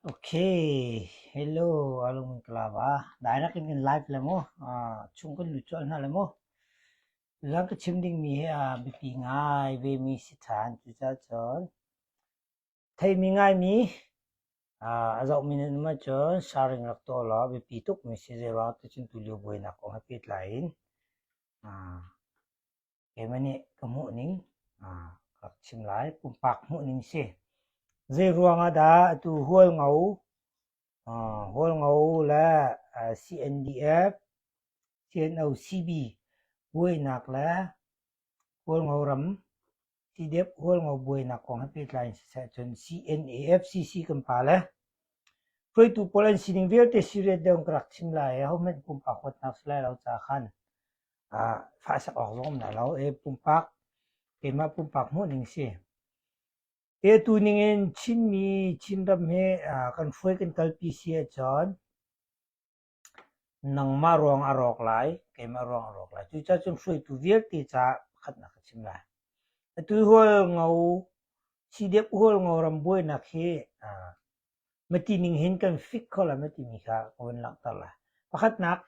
Okay, hello alung in kalava. Dai nak in kan live le mu. Uh, chung kan lu cual hna le mu. Lam ka chim ding mi hi uh, biapi ngai ve mi si than cu ca cun. Thei mi ngai mi uh, a zau mi nan ma cun sharing rak to law biapi tuk mi si zei ruang tu cun tu lio buai nak kong ha pet lai in. Uh, keimah nih ka hmuhning ka rak chim lai. Pumpak hmuhning si. Zeiruang ah dah atu Hualngo, Hualngo le CNDF, CNO-CB buainak le Hualngo ram CDF Hualngo buainak kong he pehtlai in siseh cun CNAFCC kan pa le hruaitu pawl an sining vialte serious deuh in ka rak chim lai i ahohmanh pumpak huatnak si lai lo caah khan faisak awk zong na lo e pumpak keimah pumpak hmuhning si e tu ningin Chinmi Chinram he kan hruai kan kalpi si ahcun nangmah ruang a rawk lai keimah ruang a rawk lai cucacun hruaitu vialte ca pakhat na ka chim lai atu hual ngo sidep hual ngo ram buainak hi mati ning hin kan fik kho la mati mi kha ka van langhter la pakhatnak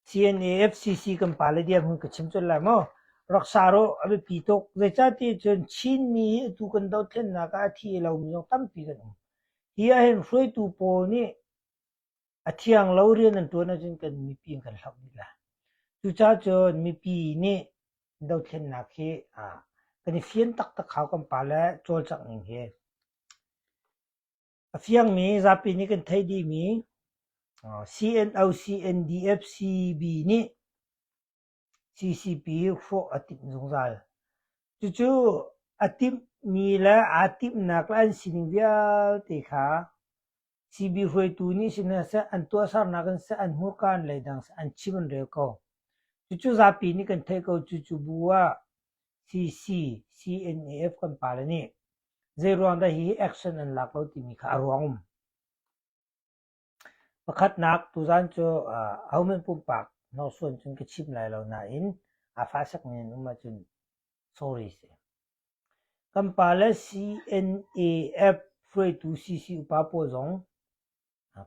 CNAFCC kan pa le dirhmun ka chim colh lai maw? Rak sa rawh a biapi tuk. Zeicahtiah cun Chinmi hi atu kan dothlennak ah a thi a lomi zong tampi kan um. Hi ahhin hruaitu pawl nih a thiang lo rian an ṭuan ahcun kan mipi in kan hloh dih lai. Cucaah cun mipi nih dothlennak hi ah kan i fian taktak hau kan pa le cawlcangh ning hi. A fiangmi zapi nih kan theih dihmi CNO-CNDF-CB nih CCP hrawh a timh zungzal. Cucu a timhmi le aa timhnak le an sining vialte kha CB hruaitu nih sihmanhseh an tuahsernak in seh an hmurka in leidang seh an chim an rel ko. Cucu zapi nih kan theih ko. Cucu bu ah CCCNAF kan pale nih zei ruang dah hi action an lak lo timi kha a ruang um. Pakhatnak tuzan cu uh, ahoman pumpak hnawrsuan cun ka chim lai lo nain a fasak men um ahcun sorry si. Kan pale CNAF hruaitu CC upa pawl zong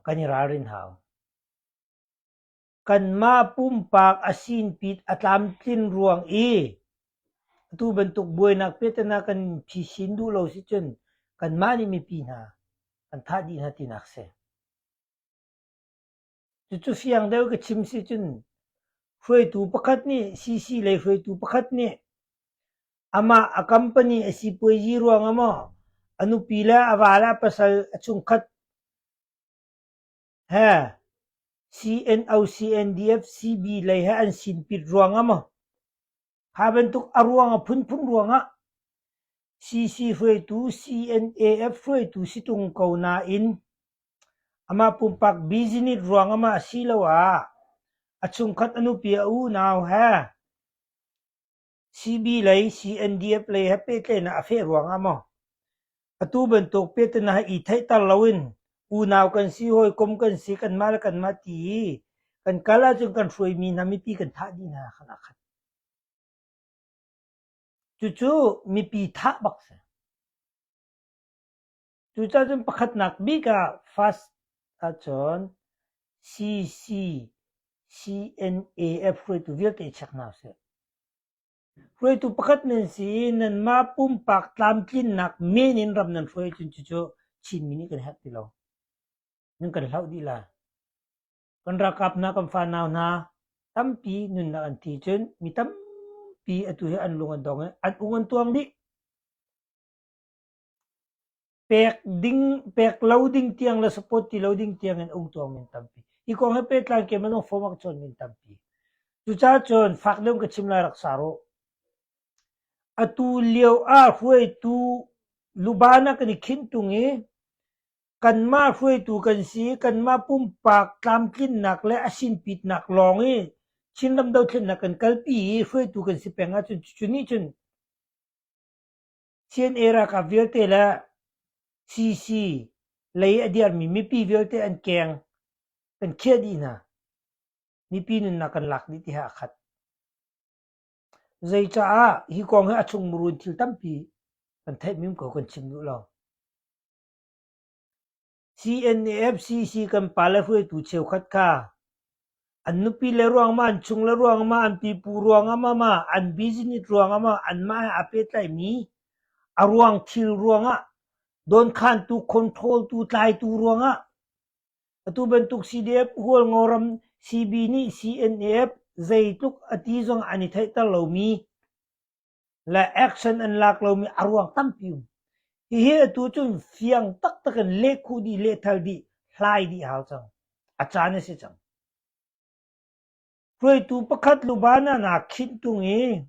kan i ralrin hau. Kanmah pumpak a sinpit a tlamtlin ruang i atu bantuk buainak pehtlaihnak kan phi sin duh lo sicun kanmah nih mipi hna kan thah dih hna tinak si. Cucu fiang deuh ka chim si cun hruaitu pakhat nih CC lei hruaitu pakhat nih amah a company a sipuazi ruang ah maw a nupi le a va le a pasal a chungkhat CNOCNDF CB lei he an sin pit ruang ah maw, kha bantuk a ruang a phunphun ruang ah CC hruaitu CNAF hruaitu si tung ko nain amah pumpak business ruang ah mah asiloah a chungkhat a nupi a unau he CB lei CNDF lei he pehtlaihnak a feh ruangah maw? Atu bantuk pehtlaihnak i theihter loin unau kan si, hawikom kan si, kanmah le kanmah ti i kan kal ahcun kan hruaimi hna mipi kan thah dih hna khan a khat. Cucu mipi thah bak si. Cucacun pakhatnak bik ah fast ahcun CCCNAF hruaitu vialte check hna usih. Hruaitu pakhat nan si i nanmah pumpak tlamtlinnak men in ram nan hruai ahcun cucu Chinmi nih kan herh ti lo. Nan kan hlauh dih lai. Kan ralkap hna, kan fanau hna tampi nunnak an thi cun mi tampi atu hi an lung an dong i an ung an tuang dih. Pek ding, pek lo ding tiang le support ti lo ding tiang in um tuang min tampi. Hi kong he pehtlai keimah nung form ah cun min tampi. Cucacun fak deuh ka chim lai rak sa ruh. Atu lio ah hruaitu lubana kan i khinh tung i kanmah hruaitu kan si, kanmah pumpak tlamtlinnak le a sinpitnak lawng i Chinram dothlennak kan kalpi i hruaitu kan si peng ahcun cucu nih cun Chin i ralkap vialte le CC lei a dirmi mipi vialte an keng kan khiah dih hna. Mipi nunnak kan lak dih tiah a khat. Zeicaah hi kong hi a chung murun thil tampi kan theih mim ko kan chim duh lo. CNAFCC kan pale hruaitu cheukhat kha an nupi le ruangah, an chung le ruangah, an pipu ruangah, an business ruangah, anmah he aa pehtlaimi a ruang thil ruangah, dawnkhantu, controltu, tlaitu ruangah atu bantuk CDF hualngoram CB nih CNAF zeitluk a ti zong an i theihter lomi le action an lak lomi a ruang tampi um. Hihi atu cun fiang taktak in leh khuh dih, lehthal dih, hlai dih hau cang. A caan a si cang. Hruaitu pakhat lubana na khin tung i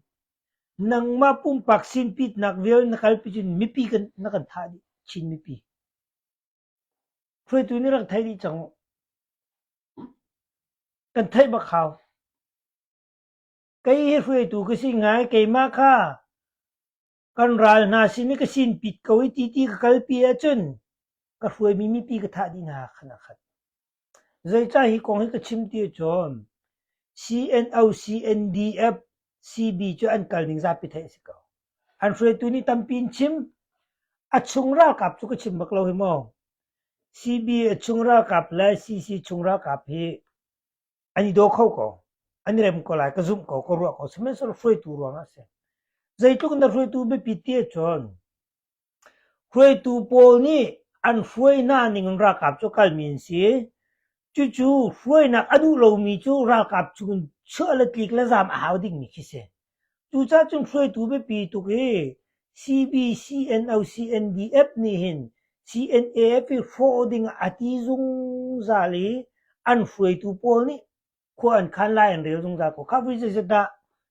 nangmah pumpak sin pitnak vial na kalpi cun mipi kan, na kan thah dih chin mipi. Hruaitu nih rak thei dih cang. Kan theih bak hau. Kei hi hruaitu ka si ngai, keimah kha kan ral hna sin i ka sinpit ko i ti ti ka kalpi ahcun ka hruaimi mipi ka thah dih hna khan a khat. Zeicah hi kong hi ka chim ti ahcun CNO, CNDF, CB cu an kal ning zapi theih a si ko. An hruaitu nih tampi in chim, a chung ralkap cu ka chim bak lo hi maw. CB a chung ralkap le CC chung ralkap hi an i daw kho ko, an i rem ko lai, ka zumh ko, ka ruah ko. Sihmanhsehlaw hruaitu ruangah a si. Zeitluk in dah hruaitu biapi ti ahcun, hruaitu pawl nih an hruainak ning in ralkap cu kalmi an si. Cucu hruainak a duh lomi cu ralkap chung in chiah le tlik le zaam a hau dingmi khi si. Cucacun hruaitu biapi tuk hi CBCNO-CNDF nih hin CNAF i hrawh ding ah a ti zungzal i an hruaitu pawl nih khua an khan lai an rel zungzal ko. Kha vui zeiset dah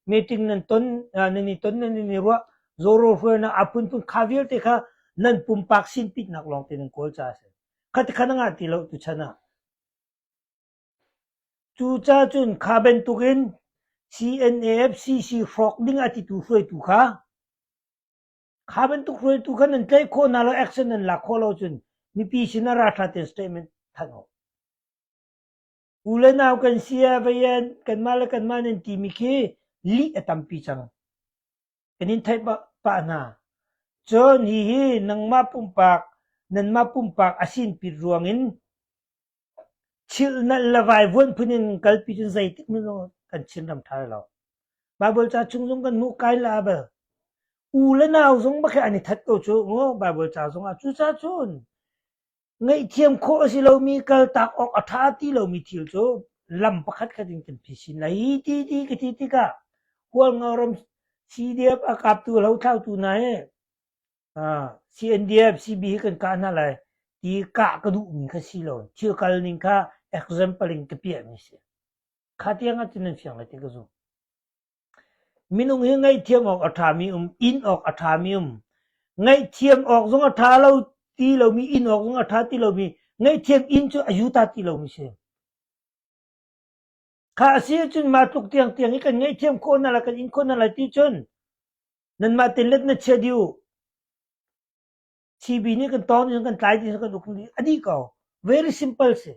meeting nan ton nan i ton nan i ruah zawrawl hruainak a phunphun kha vialte kha nan pumpak sinpitnak lawngte nan kawl caah a si. Kha tikhan a ngah ti lo tuchan ah. Cucacun kha bantukin CNAFCC hrawk ding a titu hruaitu kha kha bantuk hruaitu kha nan tlaih khawh hna lo action nan lak khawh lo cun mipi sin ah ralṭha tein statement thanh u. U le nau kan si ah vaian kanmah le kanmah nan timi khi lih a tampi cang. Kan in theih pah hna. Cun hihi nangmah pumpak nanmah pumpak a sinpit ruang in Chilhnalh le vaivuanh phun in kalpi cu zeitik hmanh zong kan chinram ṭha lai lo. Baibal ca chung zong kan hmuh kai le Abel. U le nau zong bakhe an i that ko cu maw Baibal ca zongah. Cucacun ngaihthiam khawh a si lomi, kaltak awk a ṭha ti lomi thil cu lam pakhatkhat in kan phi sin lai. Hi ti ti ka ti tikah hualngarom sidiap a kaptu, hlothlautu hna hi CNDF CB hi kan kah hna lai ti kah ka duhmi kha si lo thil kal ning kha example in ka piahmi si kha tiang ah cun nan fiang lai ti ka zum minung hi ngaihthiam awk a ṭhami um in awk a ṭhami um ngaihthiam awk zong a ṭha lo ti lomi in awk zong a ṭha ti lomi ngaihthiam in cu a yuta ti lomi si Kha a si ahcun mah tluk tiangtiang i kan ngaihthiam khawh hna lai, kan in khawh hna lai ti cun nanmah tein let na chia dih u. CB nih kan tawng dih, kan tlai dih, kan uk dih. A dih ko. Very simple si.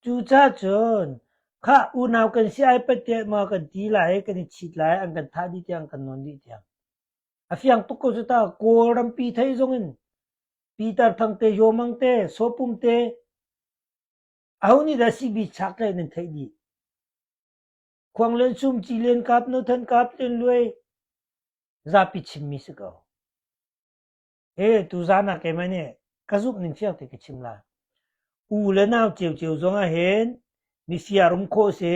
Cucacun kha unau kan si ai patte maw kan ti lai, kan i chit lai, an kan thah dih tiang, kan nawn dih tiang. A fiang tuk ko cu ta, Kawlram pi thei zong in Pitar Thang te, Yomang te, Sopum te, Aho nih dah sibitchak lei nan theih dih? Khuang len sum ci len kap no than kap len luai zapi chimmi si ko. E tu zana keimah nih ka zumh ning cio te ka chim la. U le nau ceu ceu zong ah hen mi siarum khawh se,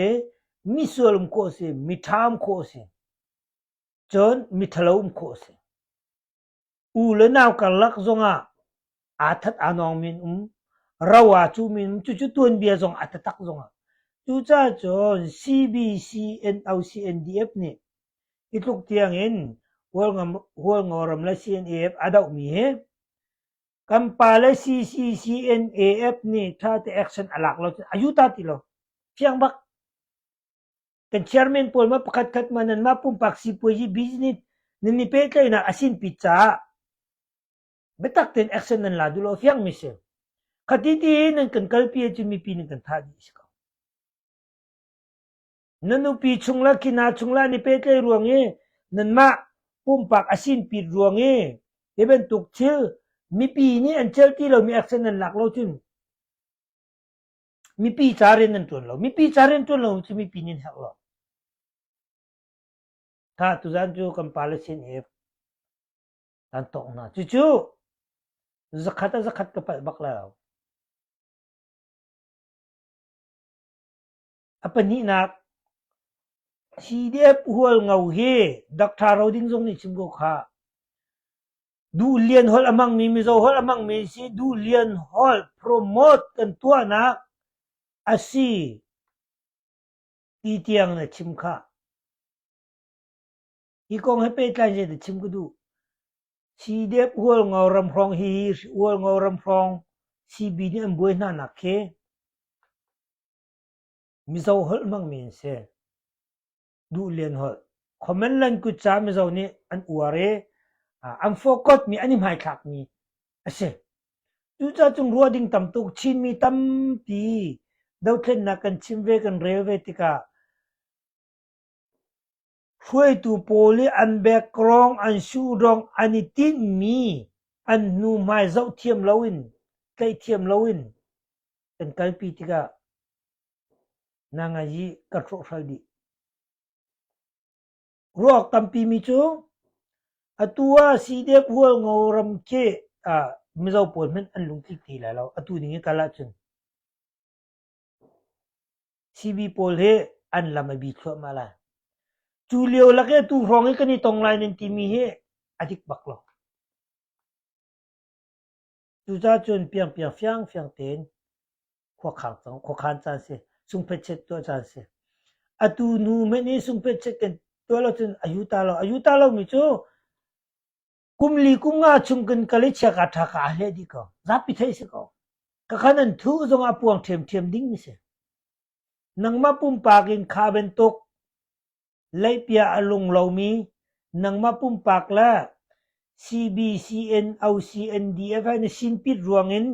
mi sualum khawh se, mi ṭham khawh se, cun mi ṭhalo um khawh se. U le nau karlak zongah aa that aa nawng men um. Ro aa cuh men um. Cucu tuanbia zong a tatak zongah. Cucaah cun CBC-NOCNDF nih hi tluk tiang in Hualngoram le CNAF a dohmi hi kan pa le CCCNAF nih thate action a lak lo cun a yuta ti lo. Fiang bak. Kan chairman pawl maw pakhatkhat maw nanmah pumpak sipuazi business nan i pehtlaihnak a sinpi caah biatak tein action nan la duh lo fiangmi si. Khati ti i nan kan kalpi ahcun mipi nih kan thah dih a si ko. Na nupi chung la kina chung la ni petlai ruang i nanmah pumpak a sin pit ruang i hi bantuk thil mipi nih an cel ti lomi action nan lak lo cun Mipi ca rian an ṭuan lo. Mipi ca rian ṭuan lo cu mipi nih an herh lo. Tha, tuzan cu kan pale sin i kan tawng hna. Cucu zakhat ah zakhat ka palh bak lo. A pahnihnak, CDF hual ngo hi Dr. Roding zong nih chim ko khah. Duhlian holh a hmangmi Mizo holh a hmangmi an si. Duhlian holh promote kan tuahnak a si ti tiang na chim khah. Hi kong he pehtlai zei dah chim ka duh? CDF Ualngo Ramhrawng hi Ualngo Ramhrawng CB nih an buai hna nak khi Mizo holh hmangmi an si. Duh Lian Holh, Khomanland kutca Mizo nih an uar i an fawkawtmi an i hmaithlakmi a si. Cucacung ruah ding tam tuk Chinmi tampi dothlennak kan chim ve kan rel ve tikah hruaitu pawl i an background an sudong an i tinhmi an hnu hmai zoh thiam loin tlaih thiam loin kan kalpi tikah Na ngaih i kan hrawhhral dih. Ruak tampi mi cu atu ah Sidek Hualngo ram khi ah Mizo pawl hmanh an lung tlik ti lai lo. Atu ning i kal ahcun CB pawl hi an lam a bi thluahmah lai. Cu lio lak i tu hrawng i kan i tong lai nan timi hi a dik bak lo. Cucacun piangpiang fiangfiang tein khuakhang cang, khuakhan caan si, sungphet chet tuah caan si. Atu nu hmanh i sungphet chet kan tuah lo cun a yu ta lo. A yu ta lomi cu kum li kum nga chung kan kal i chia ka ṭha ka a hleh dih ko. Zapi theih si ko. Ka khan an thu zongah puang ṭhiamṭhiam ding mi si. Nangmah pumpak in kha bantuk Leihbia a lung lomi nangmah pumpak le CBCN OCND Event na sinpit ruangin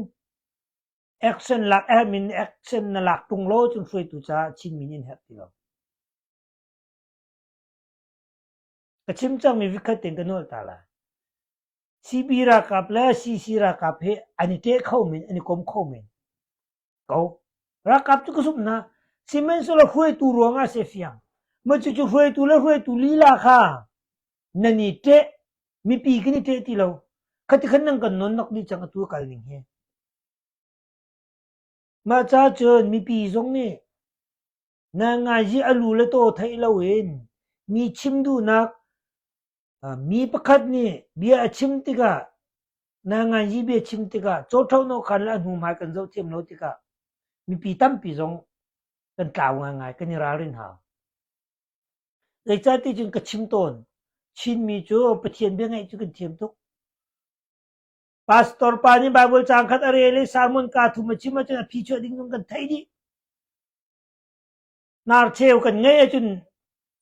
action lak admin action na lak ṭung law cun hruaitu caah Chinmi nih an herh ti lo. Ka chim cangmi vikhat ten ka nawl ta la. CB ralkap le CC ralkap hi an i teh kho men, an i kom kho men. ko ralkap cu ka zumh hna sihmanhsehlaw hruaitu ruangah si fiang macucu hruaitu le hruaitu lila kha nan i ṭeh mipi kan i ṭeh ti lo khati khan nang kan non nok dih cang atu kal ning hi mah ca cun mipi zong nih Na ngai hi a lu le taw theih loin mi chim duhnak mi pakhat nih bia a chim tikah na ngai hi bia chim tikah cawṭhonawk khan le a hnu hmai kan zoh thiam lo tikah mipi tampi zong kan tlau ngaingai kan i ralrin hau. Zeicahti cun ka chim tawn, Chinmi cu Pathian bia ngaih cu kan thiam tuk. Pastor pa nih Baibal caang khat a rel i sermon kaa thum a chim ahcun a phi chuah ding zong kan theih dih. Narcheu kan ngeih ahcun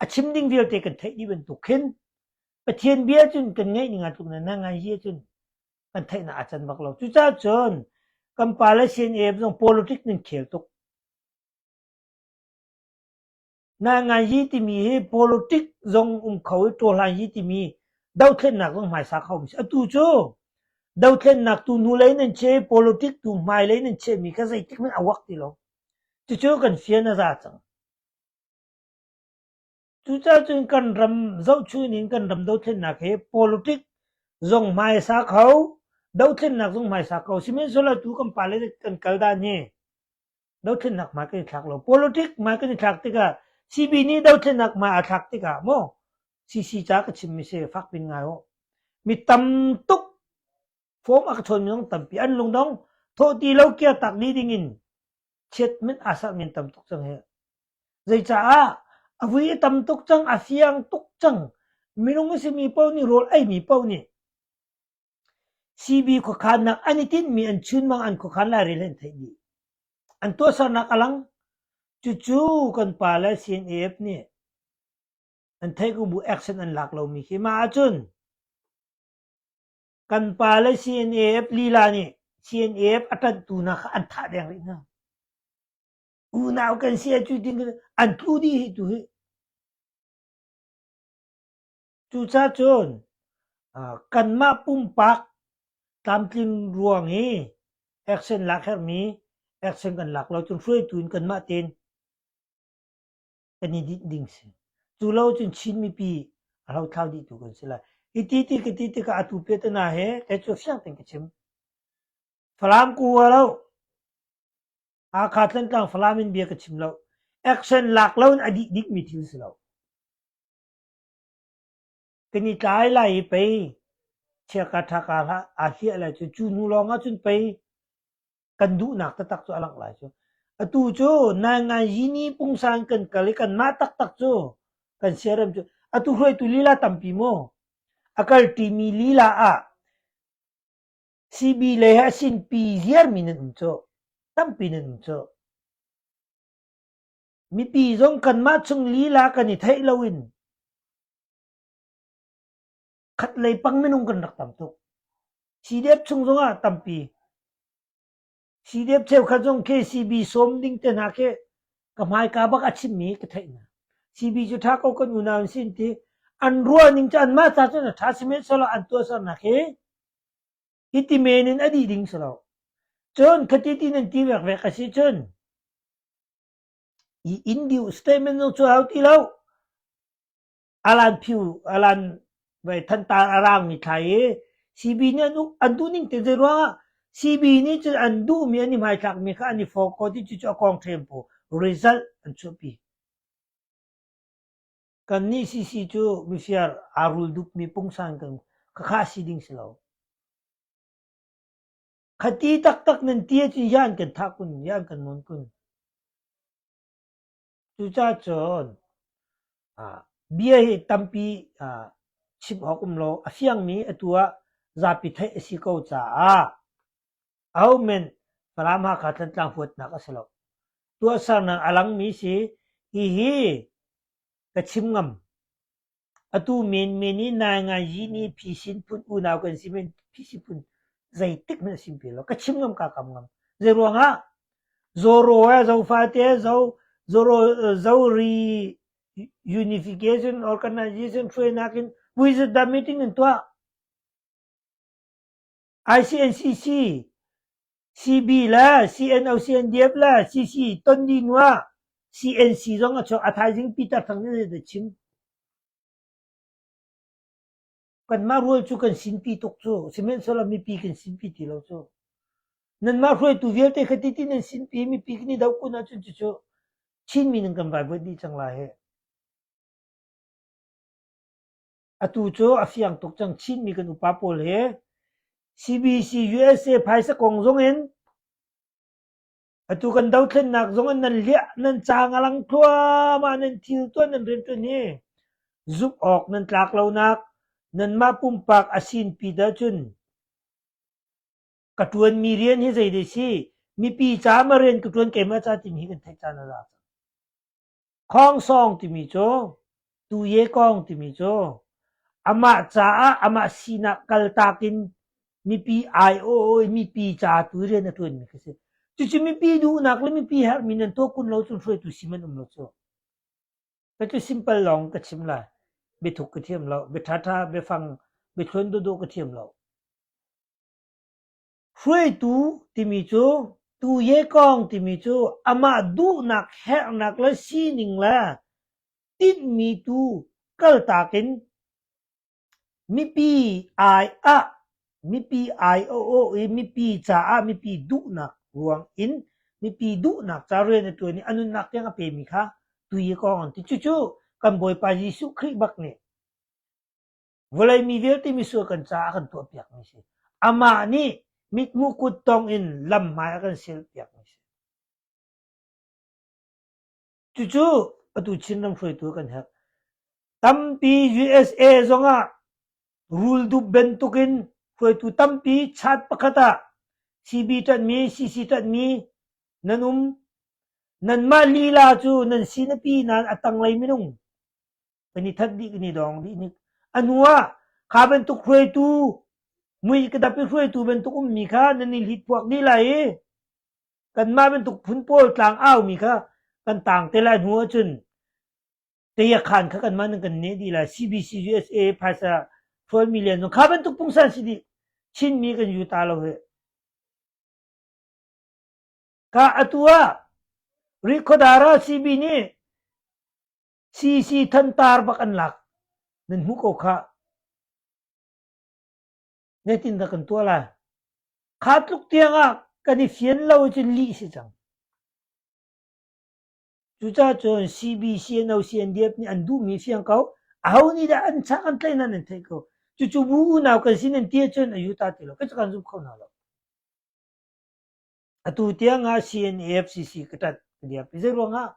a chim ding vialte kan theih dih bantuk khin Pathian bia cun kan ngeih ning tluk na ngai hi cun kan theihnak a can bak lo. Cucaah cun kan pa le CNF zong politic nan khel tuk. Nahngayi timi hi politic zong um kho i ṭawlhlanyi timi dothlennak zong hmaisa kha um si. Atu cu dothlennak tu hnulei nan cheh i politic tu hmailei nan chehmi kha zeitik men a uak ti lo. Cucu kan fian a za cang. Cucaah cun kan ram zohchun in kan ram dothlennak hi politic zong hmaisa kho, dothlennak zong hmaisa kho. Sihmanhsehlaw tu kan pale kan kal dan hi dothlennak ma kan i thlak lo politic ma kan i thlak tikah CB nih dothlennak ma a thlak tikah maw CC ca ka chimmi si fak pin ngai ho mi tam tuk form a ka chawn minung tampi an lung dong thawh ti lo kia tak ni ding in chiat min asal min tam tuk cang he zeicaah a vui tam tuk cang a fiang tuk cang minung simi po nih rol ai mi po nih Sibi khuakhannak an i tinhmi an chunmang an khuakhan lairel hi an theih dih. An tuahsernak a lang. Cucu kan pa le CNAF nih an theihkubu action an lak lomi khi. Mah ahcun kan pa le CNAF lila nih CNAF a ṭanhtu hna kha an thah deng rih hna. Unau kan si a cu ti an tlu dih hi tu hi. Cucacun kanmah pumpak tlamtling ruang i action lak herhmi action kan lak lo cun hruaitu in kanmah tein kan i dinh ding si. Cu lo cun Chin mipi a hlothlau dih tu kan si lai. Hi ti ti ka ti tikah atu pe te hna he kei cu fiang tein ka chim. Falam ku a lo. Hakha Tlantlang Falam in bia ka chim lo. Action lak lo in a dih dikmi thil si lo. Kan i tlai lai i pei chia ka ṭha kaa hlah aa hliah lai cu. Cu hnu lawng ahcun pei kan duhnak taktak cu a langh lai cu. Atu cu Naingangini pungsang kan kal i kanmah taktak cu kan siarem cu. Atu hruaitu lila tampi maw a kalṭimi lila ah sibi lei he a sinpi ziarmi nan um cuh. Tampi nan um cuh. Mipi zong kanmah chung lila kan i theih loin khat lei pang minung kan rak tam tuk. CDF chung zong ah tampi. CDF cheukhat zong KCB sawm ding te hna khi ka hmaika bak a chimmi ka theih hna. CB cu tha ko kan unau in sin ti an ruah ning ca an mah ta cun tha simen solo an tuah sar nak hi hi ti men in a dih ding solo cun khati ti nan ti vek vek a si cun I Indio statement cu a hau ti lo. Alan Thantar a raangmi thlai i CB nih an duhning te zeiruangah CB nih cun an duhmi an i hmaithlakmi kha an i fawkkaw ti cucu a kong ṭhempu result an chuahpi. Kannih CC cu mifir aa rul dukmi pungsan kan khakha si ding si lo. Khati taktak nan ti ahcun yan kan thah kun, yan kan nawn kun. Cucacun ah, bia hi tampi ah, chim awk um lo. A fiangmi atu ah zapi theih a si ko caah ahohmanh Falam Hakha Thantlang huatnak a si lo. Tuahsernak a langmi si, hihi ka chim ngam. Atu menmen i naingaizi nih phisin phun unau kan si men, phisin phun zeitik hmanh a sim pe lo. Ka chim ngam kaa kam ngam. Zeiruangah? Zoro he zofate zo, zoro, zori unification organization hruainak in vuizat dah meeting an tuah? ICNCC, CB le CNO-CNDF le CC ton dih hnu ah CNC zong a chuak. A thaizing Peter Thang nih zeidah a chim? Kanmah rual cu kan sinpi tuk cu. Sihmanhsehlaw mipi kan sinpi ti lo cu. Nanmah hruaitu vialte kha titin nan sinpi i mipi kan i doh kun ahcun cucu Chinmi nan kan vaivuat dih cang lai hih. Atu cu a fiang tuk cang Chinmi kan upa pawl hi. CBC-USA phaisa kong zongin atu kan dothlennak zong in nan liah, nan caang a lang thluahmah, nan thil tuan, nan rian tuan hi zumh awk nan tlak lonak nanmah pumpak a sinpi dah cun ka tuanmi rian hi zei dei si mipi caah ma rian ka tuan keimah ca timi hi kan theih caan a za cang. Khangsawng timi cu Tuye-kawng timi cu amah caah amah sinah kaltak in mipi aiawh i mipi ca tu i rian a ṭuanmi khi a si. Cucu mipi duhnak le mipi herhmi nan tuah kun lo cun hruaitu sim an um lo cu. Cu simple lawng ka chim lai. Biathuk ka thiam lo, biaṭhaṭha, biafang, biathluan dawhdawh ka thiam lo. Hruaitu timi cu tu yekawng timi cu amah duhnak herhnak le sining le tinhmi tu kaltak in mipi aiah mipi aiawh i mipi caah mipi duhnak ruang in mipi duhnak ca rian a ṭuan i a nunnak tiang a pemi kha tu yekawng an ti. Cucu kan Bawipa Jesuh Khrih bak nih Vawlei mi vialte misual kan caah a kan tuahpiakmi si. Amah nih mithmuh kut tong in lam hmai a kan silpiakmi si. Cucu atu Chinram hruaitu kan herh. Tampi USA zong ah rul dup bantuk in hruaitu tampi chat pakhat ah CB ṭanhmi, CC ṭanhmi nan um. Nan mah lila cu nan sinapi nan a tanglei minung kan i that dih kan i dong dih nik anu ah kha bantuk hruaitu mui ka dap i hruaitu bantuk ummi kha nan i hlit puak dih lai i kanmah bantuk phun pawl tlang au mi kha kan tang te lai hnu ahcun tayakhan kha kanmah nan kan ne dih lai CBC USA phaisa hrual million zong kha bantuk pungsan si dih chinmi kan yu ta lo he ka atu ah Rikodara CB nih Sisi thantar bak an lak nan hmuh ko khah. Zeitin dah kan tuah lai? Kha tluk tiang ah kan i fian lo cun lih si cang. Cucacun CBCNO CNDF nih an duhmi fiang ko. Aho nih dah an chak an tlaih nan an theih ko. Cucu bu unau kan si nan ti cun a yuta ti lo. Kai kan zum kho hna lo. Atu tiangah CNAFCC ka ṭanh ka diam. Zeiruangah?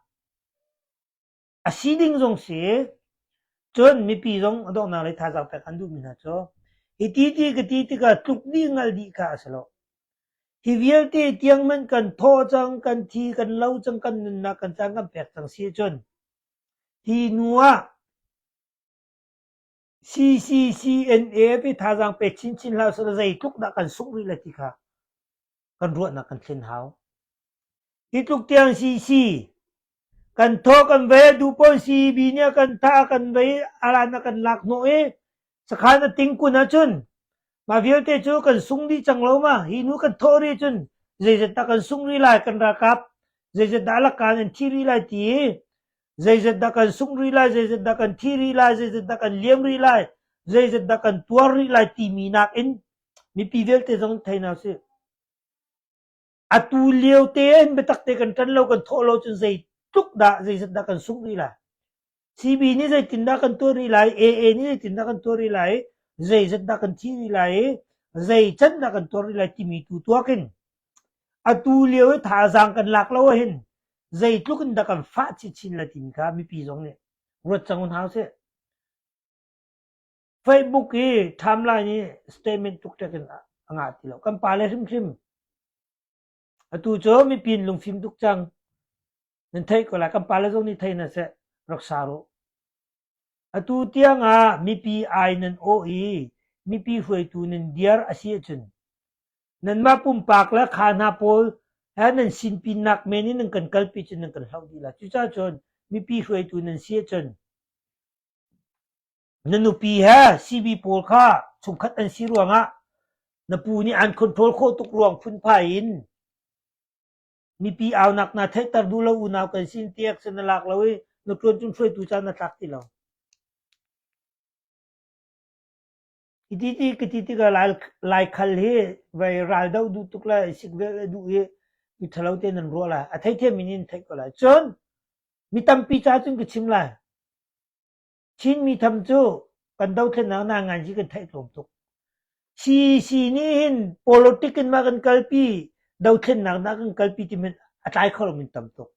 A si ding zong si, cun mipi zong a donghnak le thazaang pek an duhmi hna cu hi ti ti ka ti tikah tluk dih hngalh dih kha a si lo. Hi vialte tiangman kan thawh cang, kan thi, kan lo cang, kan nunnak kan caan kan pek cang si ahcun hi hnu ah CCCNA pe thazaang pek chinchin hlah seh law zeitluk dah kan sungh rih le ti kha kan ruahnak kan thlen hau. Hi tluk tiang CC kan tho kan vei dupawn CEB nia kan tha kan vei aran na kan lak no e sakhan na ting kun ahcun ma vialte cu kan sung dih cang lo ma hi nu kan tho ri cun zeizat dah kan sung ri lai kan rakap zeizat dah lakan an thi ri lai ti zeizat dah kan sungh rih lai, zeizat dah kan thi rih lai, zeizat dah kan liam rih lai, zeizat dah kan tuar rih lai timi nakin mipi vialte zong in thei hna sih. Atu lio te in biatak te kan tan lo, kan thawh lo cun zei tluk dah, zeizat dah kan sungh rih lai. CB nih zeitindah kan tuar rih lai, AA nih zeitindah kan tuar rih lai, zeizat dah kan thi rih lai, zeican dah kan tuar rih lai timi tu tuakin atu lio i thazaang kan lak lo ahhin Zeitluk in dah kan fah chinchin le timi kha mipi zong nih ruat cang hna usih. Facebook i timeline i statement tuktak in a ngah ti lo. Kan pale hrimhrim. Atu cu mipi in lungfim tuk cang. Nan theih ko lai. Kan pale zong nih thei na seh. Rak sa ruh. Atu tiangah mipi ai nan awh i mipi hruaitu nan dir a si ahcun nanmah pumpak le kha hna pawl he nan sinpinnak men in nan kan kalpi cun nan kan hloh dih lai. Cucaah cun mipi hruaitu nan si ahcun na nupi he CV pawl kha chungkhat an si ruangah na pu nih an control khawh tuk ruang phunphai in Mipi aunak naa theihter duh lo unau kan sin tiah sin na lak lo i na ṭuan cun hruaitu caan na tlak ti lo. Hititi ka ti tikah lai, lai khal hi vai ral do duh tuk le sik vel a duh i mi ṭhalo te nan ruah lai. A theithiam in in theih ko lai. Cun mi tampi ca cun ka chim lai. Chinmi tham cu kan dothlennak hna ngan hi kan theih tlawm tuk. CDC nih hin politic in mah kan kalpi, dothlennak hna kan kalpi ti min a tlai kho lo min tam tuk.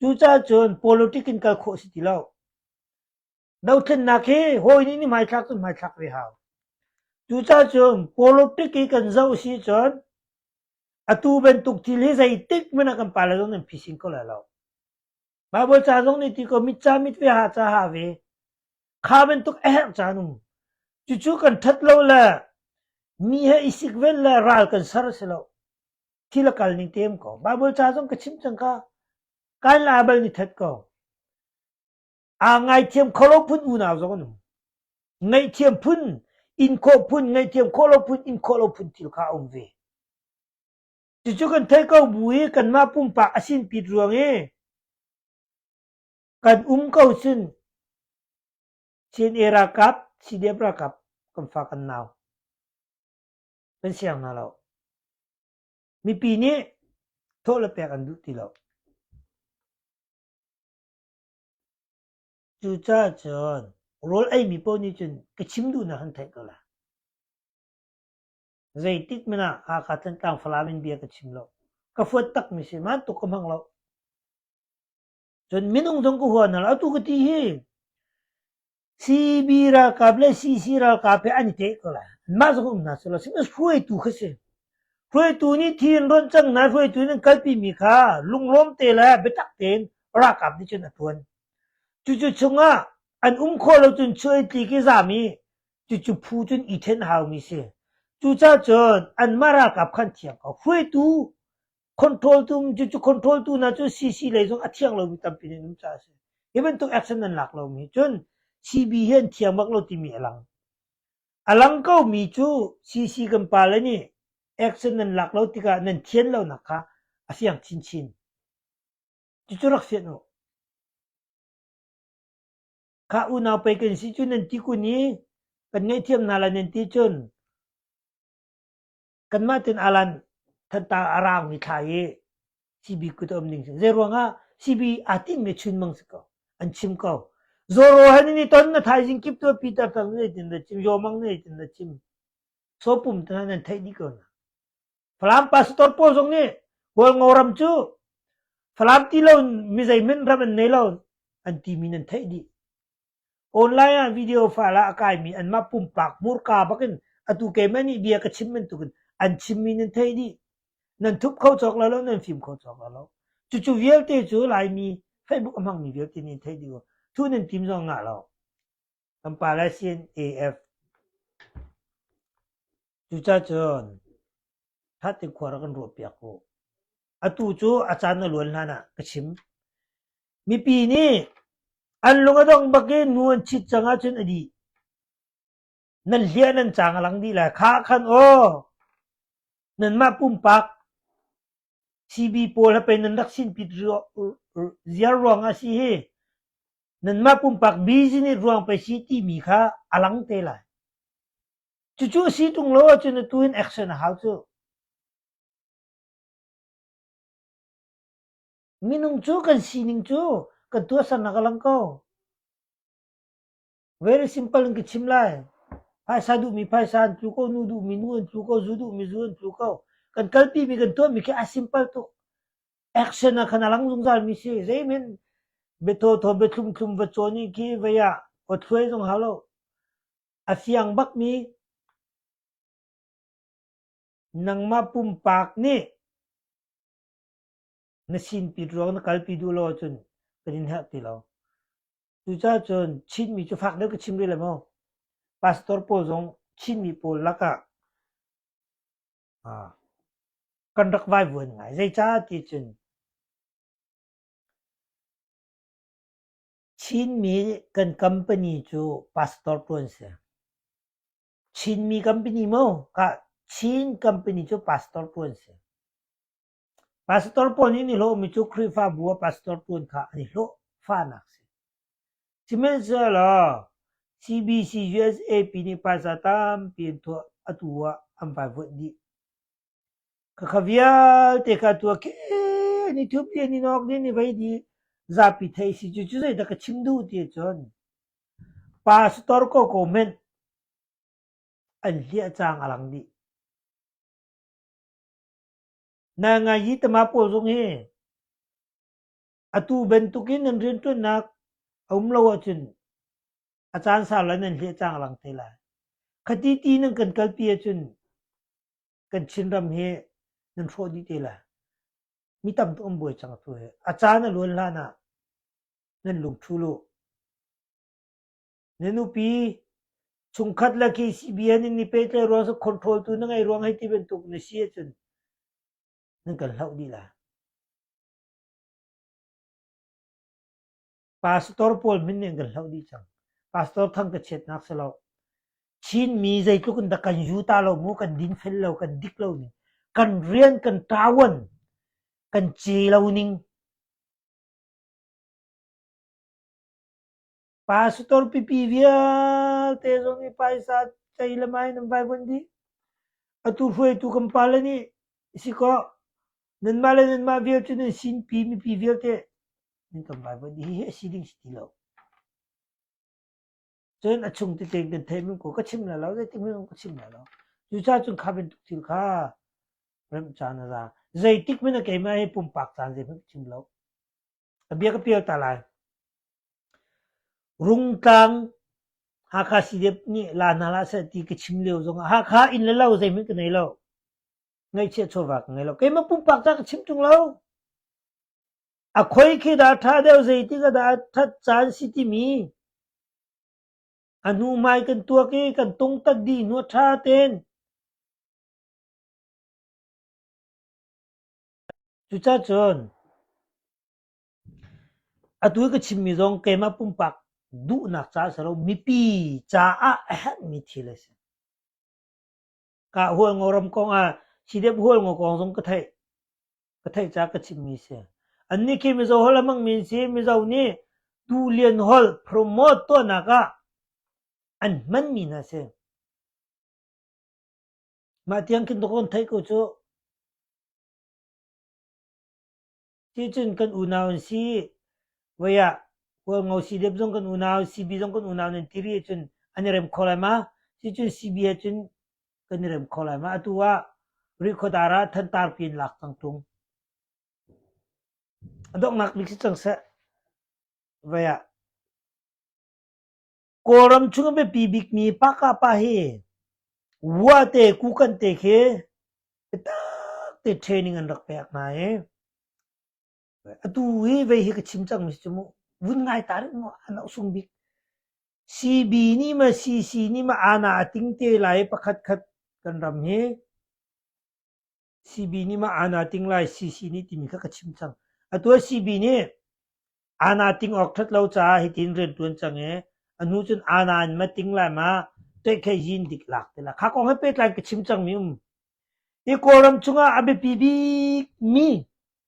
Cucaah cun politic in kal khawh si ti lo. Dothlennak hi hawi nih ni hmaithlak cu hmaithlak ve hau. Cucaah cun politic i kan zoh si cun atu bantuk thil hi zeitik hmanh ah kan pale zong nan phising ko lai lo. Mah bawi ca zong nih ti ko mit ca mit ve ha ca ha ve. Kha bantuk a herh ca nung. Cucu kan that lo le mi he i sik vel le ral kan ser a si lo. Thil a kal ning tem ko. Mah bawi ca zong ka chim cang ka. Kan la bal ni that ko. A ngai thiam kholo phun unau zong nung. Ngai thiam phun in khawh phun ngai thiam kholo phun in khawh lo phun thil kha um ve. Cucu kan theih ko bu i kanmah pumpak a sinpit ruang i kan um ko cun Chin e ralkap, CDF ralkap kan fa kan nau kan siang hna lo. Mipi nih thawh le pek an duh ti lo. Cucaah cun rawl ei mi paoh nih cun ka chim duhnak an theih ko la. Zeitik hmanh ah Hakha Thantlang Falam in bia ka chim lo. Ka fuat takmi si ma tuk ka hmang lo. Cun minung zong ka hua na lo. Atu ka ti hi CB ralkap le CC ralkap he an i teh ko la. Anmah zong um hna si lo. Sihmanh hruaitu kha si. Hruaitu nih thir ronh cang na hruaitu nih kalpi mi kha lunglawm te le biatak tein ralkap nih cun a tuan. Cucu chungah an um khawh lo cun chuai tli ki zam i Cucu phu cun i then haumi si. Cucacun anmah ralkap kha an thiang ko. Hruaitu, control tu, cucu control tu hna cu CC lei zong a thiang lomi tampi in um caah a si. Hi bantuk action an lak lomi cun CB hi an thiang bak lo timi a lang. A lang ko mi cu CC kan pa le nih action nan lak lo tikah nan thian lonak kha a fiang chinchin. Cucu rak fian u. Ka unau pei kan si cu nan ti kun i kan ngaihthiam hna lai nan ti cun kanmah tin alan thanta a raangmi thla hi sibi kut a um ding cu. Zeiruangah sibi aa tinhmi chunmang si ko. An chim ko. Zoro han ni ton na thaizing kip tu Peter tang na tin na chim, Yomang na tin na chim. So pum ta nan theih ni ko na. Falam pastor pawl zong nih Hualngo ram cu Falam ti lo in mi zeihmanh ram an nei lo an timi nan theih dih. Online ah video fal ah a kaimi anmah pumpak murka bakin atu keimah nih bia ka chim bantukin an chimmi nan thei dih. Nan thup kho cawk lo lo, nan fim kho cawk lo lo. Cucu vialte cu Laimi Facebook a hmangmi vialte nih theih dih ko. Thu nan tim zong ngah lo. Kan pale sin AF. Cucacun ṭhat in khua rak kan ruahpiak u. Atu cu a caan na luan hlan ah ka chim. Mipi nih an lung a dong bak i nu an chit cang ahcun a dih. Nan hliah nan cang a lang dih lai. Kha khan aw, nanmah pumpak CB pawl ha pe nan rak sin pit ziar ruang ah si hi Nanmah pumpak business ruang pe si timi kha a lang te lai. Cucu a si tung lo ahcun atu in action a hau cuh. Minung cu kan sining cu kan tuahsernak a lang ko. Very simple in ka chim lai. Phaisa duhmi phaisa an tlu ko, nu duhmi nu an tlu ko, zu duhmi zu an tlu ko. Kan kalpimi kan tuahmi khi a simple tuk. action ah khan a lang zungzalmi si. Zeimin biatawthaw biathlumthlum va cawn i ki vei ah aw thluai zong hau lo. A siang bakmi nangma pumpak nih na sin pit ruang na kalpi duh lo ahcun kan in herh ti lo. Cucaah cun Chinmi cu fak deuh ka chim rih le maw? Pastor pawl zong Chinmi pawl lakah Kan rak vaivuan ngai. Zeicah ti cun Chinmi kan company cu pastor tu an si. Chinmi company maw? Ka Chin company cu pastor tu an si. Pastor pawl nih an i hlawhmi cu Khrihfabu ah pastor ṭuan kha an i hlawh fahnak a si. Sihmanhsehlaw CBC USAP nih phaisa tampi an tuah atu ah an vai vuanh dih. Khakha vialte kha a tuah khen i thup dih an in awk dih i vei dih zapi thei si cu. Cu zeidah ka chim duh ti ahcun pastor ko comment an hliah cang a lang dih. Na-ngai-yi tama pawl zong hi atu bantuk in nan rianṭuannak a um lo ahcun a caan sau lai nan hliah canglang te lai. Khati ti nan kan kalpi ahcun kan Chinram hi nan hrawh dih te lai. Mi tam tu an buai cang atu hi. A caan a luan hlan ah nan lungṭhu lu. Na nupi, chungkhat le KCBN in i pehtlaih ruang cu control tu na ngeih ruang hei ti bantuk na si ahcun nan kan hloh dih la. Pastor pawl min nih an kan hloh dih cang. Pastor thang ka chiatnak si lo. Chinmi zeitluk in dah kan yuta lo mu, kan dinfel lo, kan dik lo ning. Kan rian, kan tawan, kan ci lo ning. Pa sitor pipi vialte zong i paisa cei le mai nan vai bunh dih. Atu hruaitu kan pale nih si kaw nanmah le nanmah vial cu nan sinpi mipi vialte nan kan vai bunh dih hi a si ding si ti lo. Cun a chung tete kan thei min ko ka chim la lo zeitik min ka chim la lo. Cuca cun kha bantuk thil kha remh caan a za. Zeitik min a keimah hi pumpak caan zeihmanh ka chim lo. A bia ka pial ta lai. Rungtlang Hakha CDF nih la hna hlah seh ti ka chim lio zongah Hakha inn le lo zeihmanh ka nei lo. Ngaihchiah chawva ka ngei lo. Keimah pumpak ta ka chim tung lo. A khoi khi dah ṭha deuh zeitik ah dah ṭhat caan si timi a hnu mai kan tuak i kan tungtat dih hnu ṭha ten Cucacun atu i ka chimmi zong keimah pumpak duhnak caah a si lo, mipi caah a herhmi thil a si. Kaa hual ngo ram kong ah sidep hual ngo kong zong ka theih, ka theih caah ka chimmi a si. Annih khi Mizo holh a hmangmi an si. Mizo nih Duhlian holh promote tuahnak ah an hmanmi hna a si. Mah tiang khin ka kun theih ku cuh. Ticun kan unau an si. Voi ah Kawlngo CDF zong kan unau, CB zong kan unau nan ti rih ahcun an i rem kho lai ma? Ticun CB ahcun kan i rem kho lai ma? Atu ah Rihkhawdar ah Thantar piin lak cang ṭung. A donghnak bik si cang seh. Voi ah Kawlram chung a biapi bikmi Paka pa hi Wate, Kukante khi biatak te training an rak pek hna i atu hi vei hi ka chim cangmi cu mu vun ngai ta rih mu an ohsung bik. CB nih maw CC nih maw aana a ting te lai pakhat khat kan ram hi CB nih mah aana ting lai CC nih timi kha ka chim cang. Atu ah CB nih aana ting awk ṭhat lo caah hitin rianṭuan cang i a hnu cun aana in ma ting lai ma teihkhehin dik lak te la. Kha kong he pehtlai ka chim cangmi um. Hi Kawlram chungah a biapi bikmi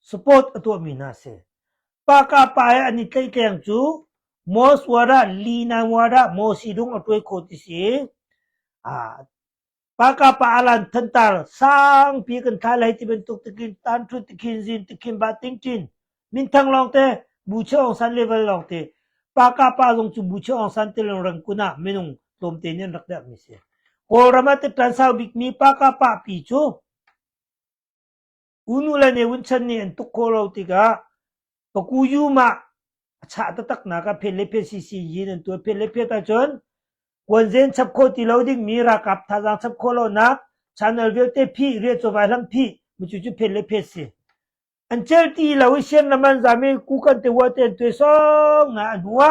Support a tuahmi hna a si. Paka pa i an i tleihkeng cu Mos Warah, Lina Warah, Mosi Dung a tuai kho ti si. Ah, Paka pa alan thantar sangpi kan thai lai ti bantuk tikin tan thut tikhin zin tikhin ba tingtin min thang long te bu che ong san level long te Paka pa zong cu bu che ong san te long rang kuna minung tlom te nin rak dak mi si. Kawlram ah te tan sau bik mi Paka pa pi cu U nule nih Vunchan nih an tuk khawh lo tikah paku yum ah a chah taktaknak ah phen le phe sisi yin an tuah. Phen le phet ahcun kuanzen chap khawh ti lo dingmi ralkap thazaang chap khawh lonak channel vialte phih riah chawvai hlam phih mucu cu phen le phet si. An cel ti lo i sian lam an zam i ku kan te wa te an tuai song na an hua.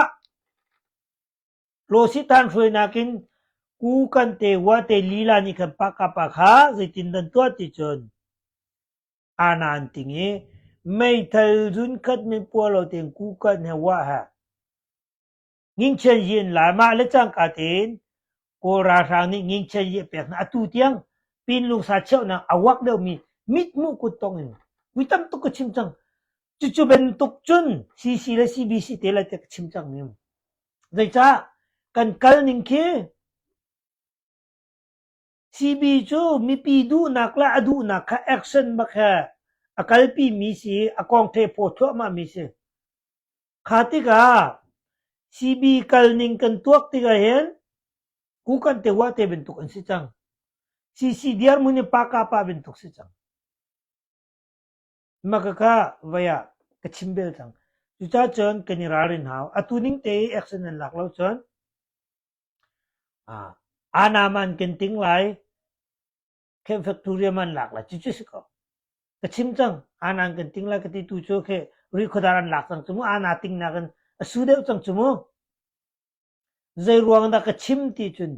Hlawhsithan hruainak in ku kan te ua te lila nih khan pahka pa kha zeitindah tuah ti cun ana an ting i meithal zunkhat min pua lo tein kukan he wah he ngingchen yi in lai mah le cangka tein Kawl ralhrang nih ngingchen yi a pek hna atu tiang pinlung sa cheuhnak a wak deuhmi mit hmuh kut tong in vui tam tuk ka chim cang Cucu bantuk cun CC le CBC te lai tiah ka chim cang ning. Zeicah kan kal ning khi CB cu mipi duhnak le a duhnak kha action bak he a kalpi mi si, a kongthe phaw thuahmah mi si. Kha tikah CB kal ning kan tuak tikah hin ku kan te wa te bantuk an si cang. CC diar mun i pa ka pa bantuk si cang. Makaka vai ah ka chim bel cang. Cucah cun kan i ralrin hau. Atu ning te action nan lak lo cun ah, anam an kan ting lai, camp factorium an lak lai, cucu si ko. Ka chim cang, ana an kan ting lai ka ti tu cu khi, ri khuadar an lak cang cumu, ana ting nak in a su deuh cang cumu. Zeiruang dah ka chim ti cun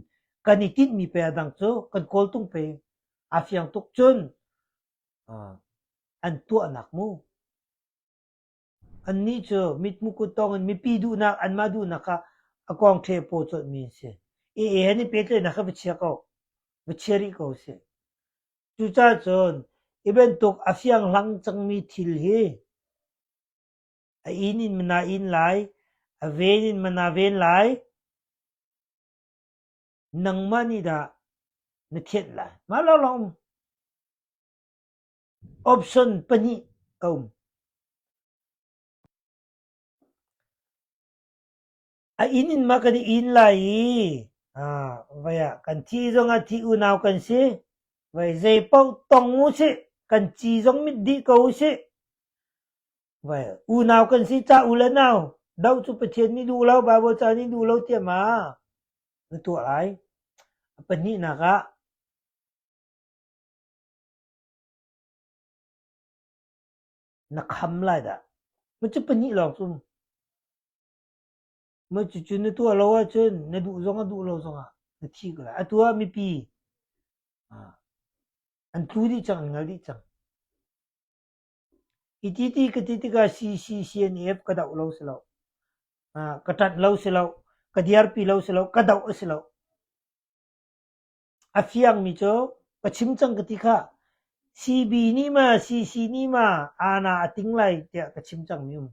kan i tinhmi pei a dang cu kan kawltung pei a fiang tuk cun an tuahnak mu. Annih cu mithmu kut thawngin mipi duhnak anmah duhnak kha a kong ṭhe paw colhmi an si. EA han i pehtlaihnak kha va chia ko, va chia rih ko sih. Cucacun hi bantuk a fianghlang cangmi thil hi A inn in mana in lai, a ven in mana ven lai. Nangmah nih dah na thianh lai? Mah lawnglawng um. Option pahnih a um. A inn in ma kan i in lai i ah, vai ah kan thi zong ah thi unau kan si. Vai zei paoh tong u sih. Kan ci zong mit dih ko u sih. Unau kan si ca u le nau, doh cu Pathian nih duh lo, Baibal ca nih duh lo tiah ma na tuah lai? A pahnihnak ah na kham lai dah. Ma cu pahnih lawng cum. Ma cucu na tuah lo ahcun na duh zong a duh lo zong ah na thi ko lai. Atu ah mipi an tlu dih cang, an ngal dih cang. I titi ka ti tikah si si si an i ep ka doh lo si lo. Uh, ka ṭanh lo si lo. Ka dirpi lo si lo. Ka doh si lo. A fiangmi cu ka chim cang ka ti khah. CB nih ma CC nih ma aana a ting lai tiah ka chim cangmi um.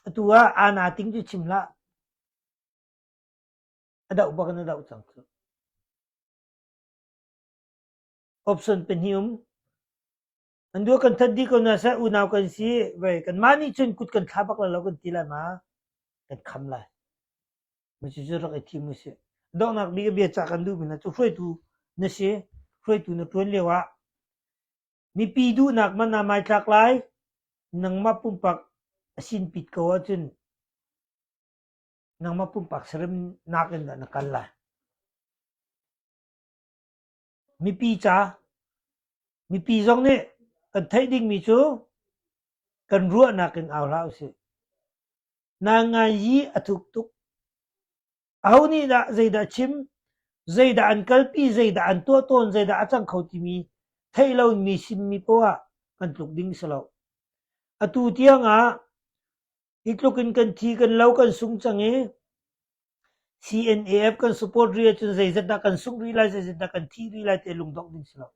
Atu ah aana ting cu chim hlah. A doh bak na doh cang cu. Option pahnih um. An dua kan that dih ko hna seh, unau kan si, vei kanmah nih cun kut kan thlah bak lo kan ti lai ma? Kan kham lai. Cucu rak i thim usih. Donghnak bik bia cah kan duhmi hna cu hruaitu na si. Hruaitu na ṭuan lio ah mipi duhnak man aa mai tlak lai. Nangmah pumpak a sin pit ko ahcun nangmah pumpak serem nakin dah na kal lai. Mipi ca, mipi zong nih kan theih dingmi cu kan ruahnak in au hlah usih. Na ngaihi a thuk tuk. Aho nih dah zeidah chim, zeidah an kalpi, zeidah an tuah tawn, zeidah a cang kho timi theih lo in mi sim mi poah kan tluk ding si lo. Atu tiang ah Hi tluk in kan thi, kan lo, kan sung cang i CNAF kan support rih ahcun zeizat dah kan sungh rih lai, zeizat dah kan thi rih lai ti lungdongh ding si lo.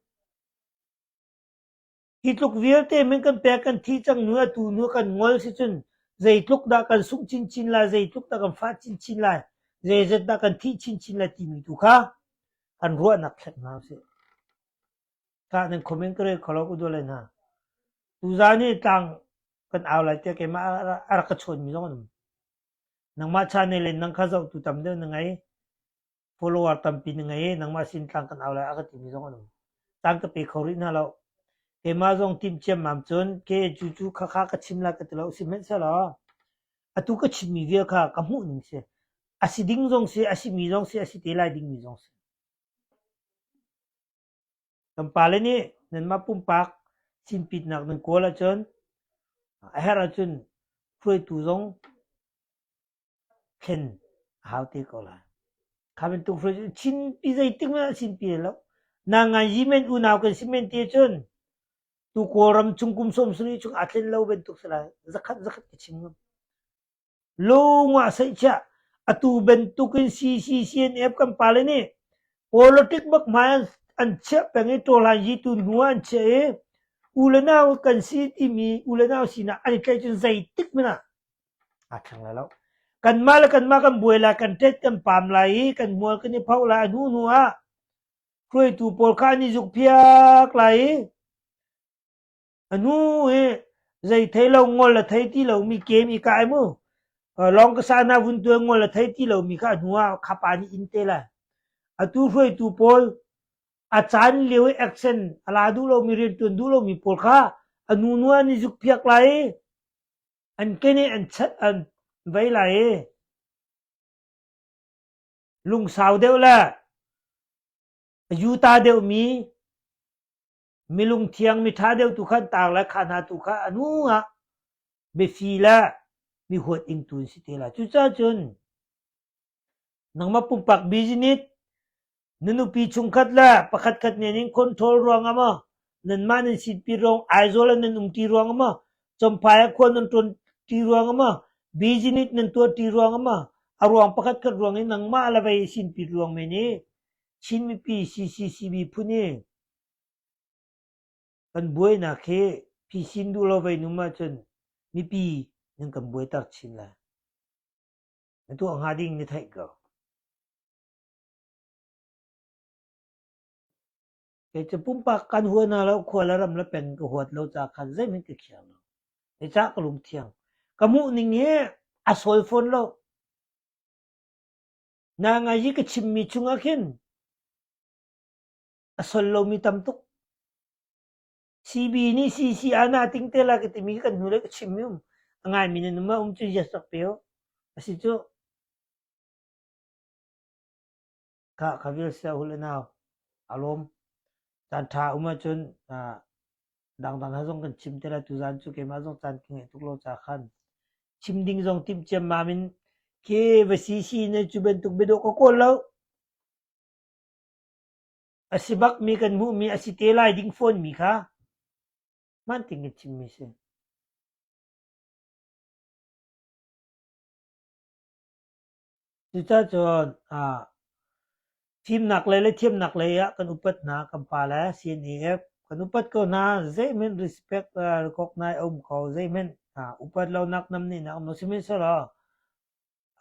Hi tluk vialte min kan pek kan thi cang nu atu nu kan ngol si cun zeitluk dah kan sungh chinchin lai, zeitluk dah kan fah chinchin lai, zeizat dah kan thi chinchin lai timi tu kha kan ruahnak thleng hna usih. Tah nan khom in ka rel kho lo ka dual lai hna. Tuzaan hi tlang kan au lai tiah keimah a rak ka chawnmi zong an um. Nangmah channel in nang kha zohtu tam deuh na ngei. Follower tampi na ngei. Nangmah sin tlang kan au lai a ka timi zong an um. Tang ka pe kho rih hna lo. Keimah zong timh ciammam cun ke cu cu kha kha ka chim lai ka ti lo. Sihmanhsehlaw atu ka chimmi vial kha ka hmuh ning si. A si ding zong si, a simi zong si, a si te lai dingmi zong si. Nan pale nih nanmah pumpak sinpitnak nan kawl ahcun a herh ahcun hruaitu zong thlen a hau te ko lai. Kha bantuk hruaitu sinpi zeitik hmanh ah sinpi lai lo. Nanganyi men unau kan si men ti ahcun tu Kawlram chung kum sawm sarih chung aa thlen lo bantuk si lai. Zakhat zakhat ka chim ngam. Lung ah seihchiah atu bantuk in CCCNF kan pale nih politic bak hmai an chiah peng i tawlaizi tu hnu ah an chiah i u le nau kan si timi u le nau sinah an i tlaih cun zeitik hmanh ah aa thleng lai lo. Kanmah le kanmah kan buai lai, kan tet kan pam lai i kan hmual kan i phoh lai. A hnu hnu ah hruaitu pawl kha an i zukphiak lai i A nu hi zei thei lo ngol a thei ti lomi game i kah ai mu. Uh, lawng ka sa hna vun tuan ngol a thei ti lomi kha a hnu ah khapa nih in te lai. Atu hruaitu pawl a caan lio i action a la duh lomi rian tuan duh lomi pawl kha a nu nua nih zuk phiak lai i an kene an chat an vei lai i lungsau deuh le yuta deuhmi Milungthiang miṭha deuh tu kha an taar lai, kha hna tu kha a hnuah biafi le mihuat ingtu an si te lai. Cucaah cun nangmah pumpak business na nupi chungkhat le pakhat khat nen in control ruangah maw nanmah nan sitpi ruang Aizawl ah nan umṭi ruangah maw Chawmphai ah khua nan ṭuanṭi ruangah maw business nan tuahṭi ruangah maw a ruang pakhatkhat ruang in nangmah le vei a sinpit ruang men i Chin mipi CCCB phun i Kan buainak hi phisin duh lo vei num ahcun mipi nan kan buaitak chin lai. Na tuah hnga ding na theih ko. Kei cu pumpak kan hua hna lo, khua le ram le pen ka huat lo ca khan zeihmanh ka khiang lo. Kei ca ka lung thiang. Ka muh ning hi a sawi fawn lo. Na ngai hi ka chimmi chungah khin a sol lomi tam tuk. CB nih CC ah na ting te la ka timi kan hnulei ka chim i um. A ngaimi na numa um cu yes rak pe u. A si cu. Ka ka vil se hule nau. Alom. Caan tha um ahcun ah, dangdang ha zong kan chim te la tu zan cu keimah zong caan ka ngeih tuk lo ca khan. Chim ding zong tim ciam mam in ke va si si na cu bantuk bedok ka kawl lo. A si bak mi kan hmuhmi a si te lai ding fawnmi kha hmaan tein chimmi a si. Cucacun ah, thimnak lei le thiamnak lei ah kan upat hna kan pa le CNAF kan upat ko hna zeimen respect uh, recognise a um ko zeimen hna upat lonak nam ni nak no sihmanhsehlaw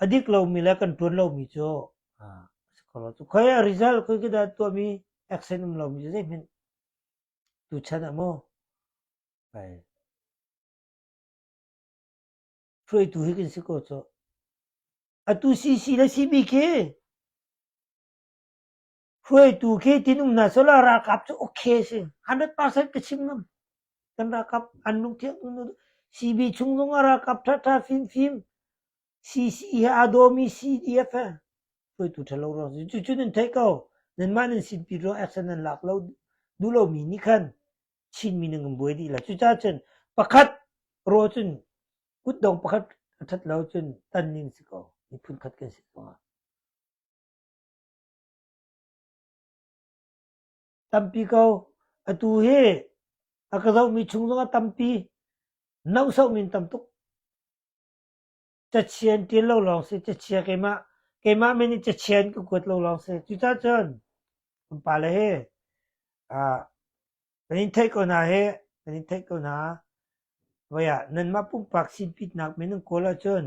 a dik lomi le kan tuan lomi cu khoi a result khoi kita tuahmi action um lomi cu zeihmanh tuchan a maw hruaitu hi kan si ko cu atu CC le CBK Hruaitu khi tihnung hna solar ralkap cu okay a si. Hundred percent ka chim ngam. Kan ralkap an lung thiang tuk. CB chung zong ah ralkap thatha fimfim. CC he aa dawmi CDF he hruaitu thalo rawk si. Cucu nan theih ko. Nanmah nan sin pi ruah action nan lak lo duh lomi nih khan Chinmi nan kan buai dih la. Cucaah cun pakhat raw cun kutdong pakhat a that lo cun tan ning si ko. Miphun khat kan si zong ah. Tampi ko, atu hi a ka zohmi chung zongah tampi nohsohmi in tam tuk. Cachia in ṭin lo lawng si, cachia keimah, keimah men in cachia in ka kuat lo lawng si. Cucah cun kan pale hi ah kan in theih ko hna hi, kan in theih ko hna. Voi ah nanmah pumpak sinpitnak men in kawl ahcun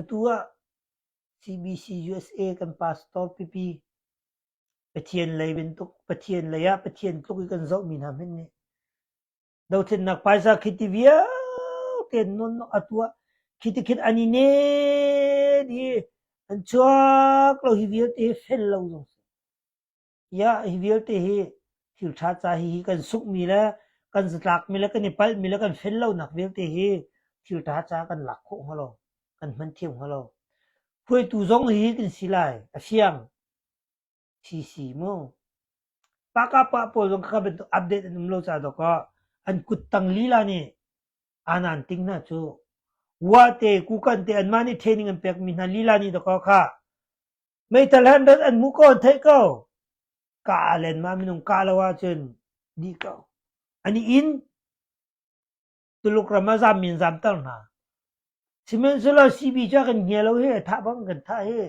Atu ah CBCUSA kan pastor pipi Pathian lei bantuk Pathian lei ah Pathian tluk i kan zohmi hna hmanh nih dothlennak paisa khiti vialte nun atu ah khiti khin an i nen i an chuak lo hi vialte fel lo zong si. Iah, hi vialte hi thilṭha ca hihi kan sunghmi le kan zatlakmi le kan i palhmi le kan fel lonak vialte hi thilṭha ca kan lak khawh hnga lo, kan hman thiam hnga lo. Hruaitu zong hi kan si lai, a fiang. Si si mu. Pakapa pawl zong kha bantuk update an um lo ca dok ah an kuttang lila nih anan ting hna cu wa te kukan te anmah nih training an pekmi hna lila nih dok ah kha Meithal han rat an hmu ko an theih ko. Ka aa len ma minung kah lo ahcun dih ko. An i in. Tuluk ram ah zam min zamter hna. Sihmanhsehlaw CB cu kan hnia lo hi, thah bang kan thah hi.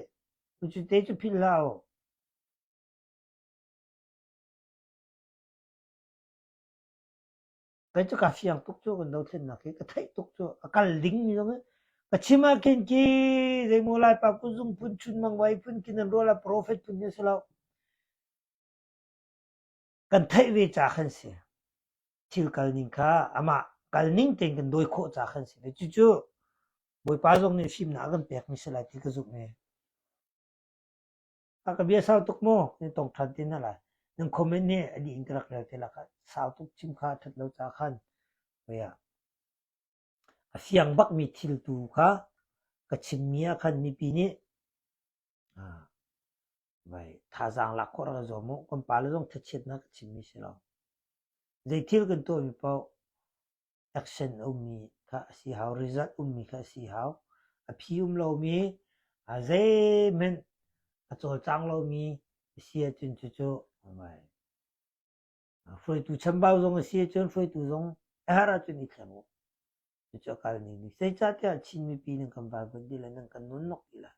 Cu te cu philh hlah u. Kei cu ka fiang tuk cu, kan dothlennak hi ka theih tuk cu. A kal dingmi zong hi ka chim ahkhin ki zeimaw Laipa kuzung phun chunmang vai phun kin an rual ah profet phun hi a si lo. Kan theih ve ca khan si. Thil kal ning kha amah kal ning tein kan dawi khawh ca khan si. Ve cucu Bawipa zong nih fimnak a kan pekmi si lai ti ka zumh ve. A ka bia sau tuk maw? Nan tong ṭhan te hna lai. Nan comment nih a dih in ka rak rel te lakah sau tuk chim kha a ṭhat lo caah khan koia a fiang bakmi thil tu kha ka chimmi ah khan mipi nih vai thazaang lak khawh rak ka zuam u kan pale zong thachiatnak ka chimmi si lo zei thil kan tuahmi paoh Action a ummi kha a si hau, result ummi kha a si hau. A phi um lomi, a zeihmanh a cawlcang lomi a si ahcun cucu hruaitu chambau zong a si ahcun hruaitu zong a herh ahcun i thleng u. Cucu a kal ning nih. Zeicahtiah Chin mipi nan kan valbunh ti le nan kan nunnuk ti le.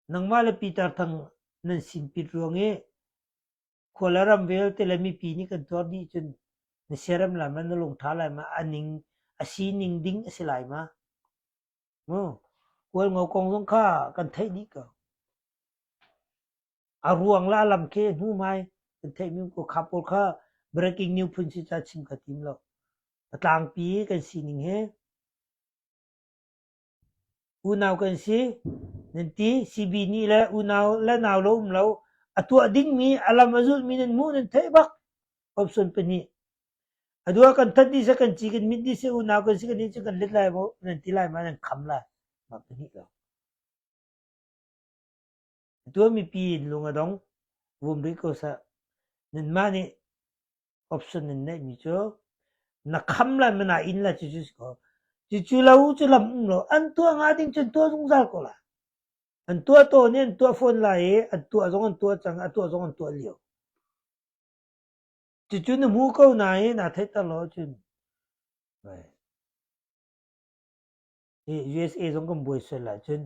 Nangmah le Peter Thang nan sin pit ruang i Khuala ram vialte le mipi nih kan tuar dih cun na siaram lai ma, na lungṭha lai ma, a ning a sining ding a si lai ma? Mu, Kualngo kong zong kha kan theih dih ko. A ruang la lam khi a hnu mai kan theih mi ko kha pawl kha breaking news phun si ca chim kha tim lo. A tlangpi kan sining he Unau kan si, nan ti. Sibi nih le unau le nau lo um lo, a tuah dingmi, a lam a zulhmi nan hmuh, nan theih bak. Komhsuan pahnih. Atu ah kan that dih seh, kan ci kan mit dih seh, unau kan si kan nih cu kan let lai maw, nan ti lai ma, nan kham lai. Mah pahnih lawng. Tua mipi in lung a dong. Vum rih ko sah. Nanmah nih option nan neihmi cu na kham lai mana in la cucu si ko. Cucu la u cu lam um lo. An tua nga ding cun tua zungzal ko la. An tua to nih an tua fawn lai i an tua zong an tua cang, a tua zong an tua lio. Cucu na mu ko nain a theiter lo cun. Right. Hi USA zong kan buai sual ahcun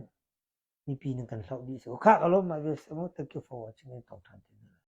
mipi nan kan hloh dih si. Khah ka lawm ah USA maw thank you for watching an tong than ti hna lai.